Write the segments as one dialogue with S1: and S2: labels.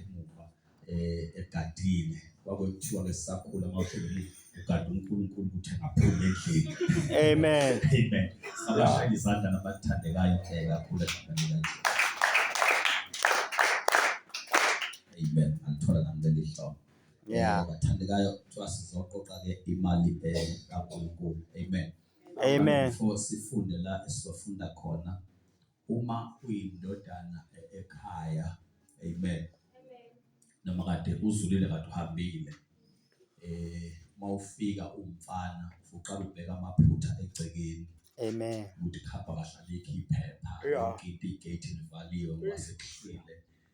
S1: emuva eh, egadile kwakuthiwa ke sisakhula mawushilo ugade uNkulunkulu ukuthi angaphumi endlini amen
S2: amen
S1: sabashaya izandla nabathandekayo ke kakhulu egameni amen angithola nami leli hlobo yeah eh, bathandekayo kuthiwa sizoqoqa ke imali eh, kaNkulunkulu amen amen for
S2: sifunde
S1: la esizofunda khona Uma uyindodana e-, ekhaya, amen. Noma kade uzulile kade uhambile. Eh mawufika umfana uqala ubheka amaphutha egcekeni. Amen. Ukuthi
S2: khapha kahlale
S1: iphepha. Yeah. Ikhiphe igate livaliwe ngoba sekuhlwile.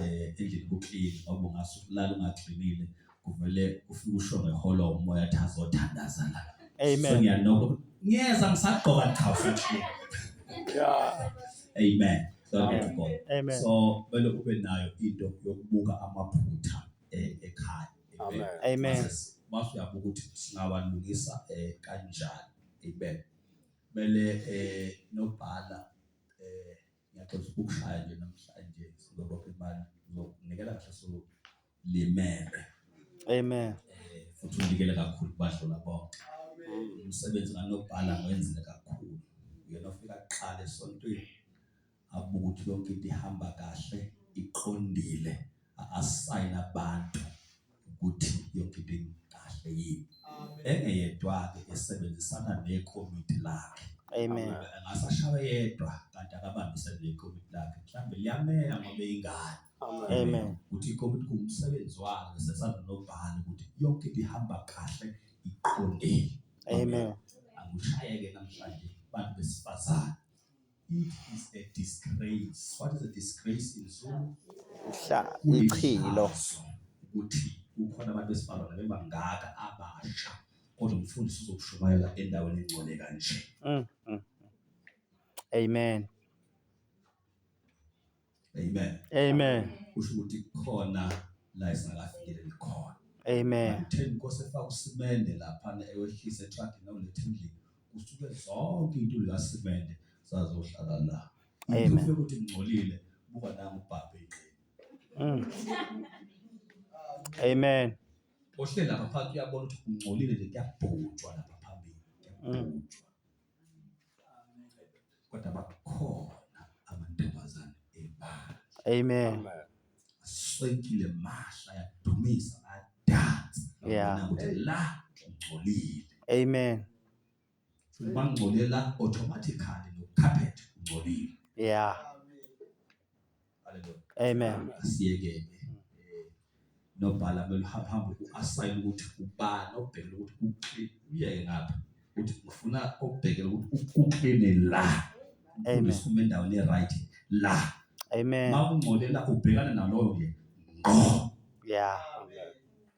S1: eh, endlini kuklini ngoba ungasulala ungagcinile kuvele ufike usho ngeholo umoya athi azothandaza la amen so ngiyanoko ngiyeza ngisagqoka ndikhawusa nje
S2: yeah amen
S1: Glory to God. Amen. So kumele
S2: ube
S1: nayo into yokubuka amaphutha eh, ekhaya. Amen.
S2: Amen. Mase uyabuka ukuthi
S1: singawalungisa eh, kanjani. Amen. Kumele eh nobhala Ngiyaxoxa ukushaya nje namhlanje sizoba imali uzokunikela kahle so limele. Amen.
S2: Eh futhi
S1: unikele kakhulu kubadlula bonke. Umsebenzi nganobhala ngwenzile kakhulu. Uyena ofika kuqala esontweni abuke ukuthi yonke into ihamba kahle iqondile asayina abantu ukuthi yonke into ikahle yini engeyedwa-ke esebenzisana nekomiti lakhe Amen.
S2: angasashaya
S1: yedwa kanti akabambise nekomiti lakhe mhlawumbe liyamela ngoba ingane Amen.
S2: ukuthi ikomiti
S1: kuwumsebenzi walo sesana nobhala ukuthi yonke into ihamba kahle iqondile Amen.
S2: akushayeke
S1: namhlanje bantu besifazane It is a disgrace. What is a disgrace in Zulu? Hla,
S2: ichilo.
S1: Ukuthi kukhona abantu besifazane bebangaka abasha kodwa umfundisi uzokushumayela endaweni engcole kanje. Mm, mm.
S2: Amen.
S1: Amen. Amen.
S2: Kusho ukuthi
S1: khona la isingakafikeleli khona. Amen. Ngitheni
S2: Nkosi efaka
S1: usimende lapha ewehlise etraki nolethe endlini. Kusuke zonke into la simende sazohlala la. Amen. Ngifike ukuthi
S2: ngcolile
S1: buka nami ubhabhe ingqini. Mm.
S2: Amen. Ohle lapha
S1: phansi uyabona ukuthi ungcolile le kuyabhujwa lapha phambili. Kuyabhujwa. kodwa bakhona amantombazane ebala. Amen.
S2: Aswenkile
S1: mahla yadumisa adansa. Yeah.
S2: La
S1: ungcolile. Amen. Bangcolela automatically no carpet ungcolile. Yeah. Hallelujah. Amen. Asiyeke nobhala kumele uhambe hambe uasayine ukuthi ubani obhekele ukuthi kuclean uyeke ngapha ukuthi ufuna obhekele ukuthi kuclean la amen usume
S2: endaweni right
S1: la amen
S2: mawungcolela ubhekana
S1: naloyo nje ngqo
S2: yeah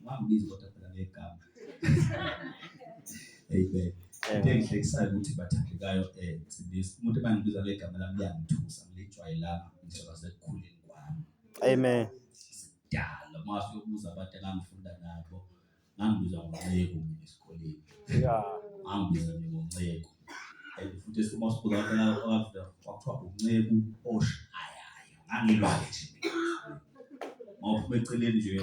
S1: Ungambizi kodwa phela ngegama. Amen. Into engihlekisayo ukuthi bathandekayo eh sibisi umuntu ebangibiza ngegama lami liyangithusa ngilijwayelanga ngisho sekukhuleni kwami. Amen.
S2: Dala
S1: mase uyobuza abantu engangifunda nabo ngangibiza ngonceku mina esikoleni. Yeah.
S2: Ngangibiza mina
S1: ngonceku. And futhi uma sibuza abantu abafunda kwakuthiwa unceku oshayayo. Ngangilwayo nje. Mawuphuma eceleni nje